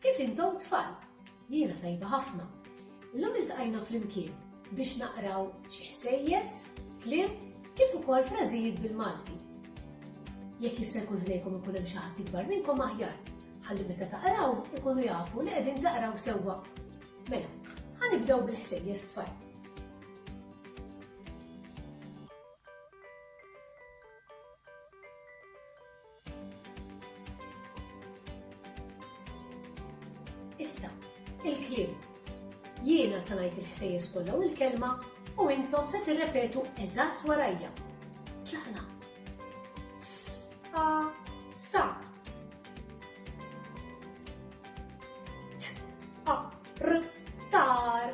Kif intom tfal? Jiena tajba ħafna. Illum iltqajna flimkien biex naqraw xi ħsejjes, kliem kif ukoll frażijiet bil-Malti. Jekk jista' jkun ħdejkom ikun hemm xi ħadd ikbar minnkom aħjar, ħalli meta taqraw ikunu jafu li qegħdin taqraw sewwa. Mela, ħa nibdew bil-ħsejjes tfal. Issa, il-kliem. Jiena se ngħid il-ħsejjes kollha u l-kelma u intom se tirrepetu eżatt warajja. Tlaqna. Sa sa. T a r tar.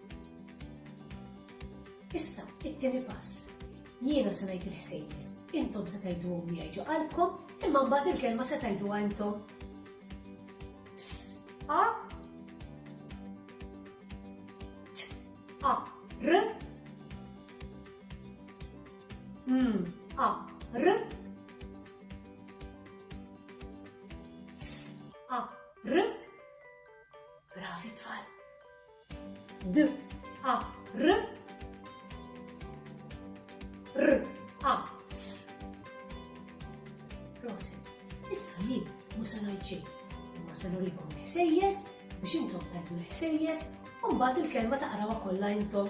Issa, it-tieni pass. Jiena se ngħid il-ħsejjes, intom se tgħiduhom miegħi ġo qalbkom, imma mbagħad il-kelma se tgħiduha intom. A T A R M A R S A R Bravi tfal. D A R R A S Prosit, issa jien mu se ngħid xejn, imma se nurikom l-ħsejjes biex intom tajtu l-ħsejjes u mbagħad il-kelma taqrawha kollha intom.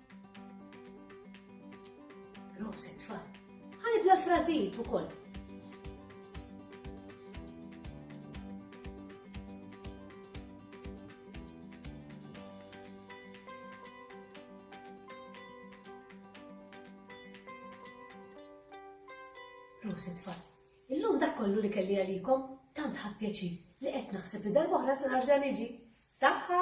Proset fa. Ħanibla l-frażijiet ukoll. Proset fa. Illum dak kollu li kelli għalikom tant ħappjaċi li qed naħseb li darba oħra se narġa' niġi. Saħħa!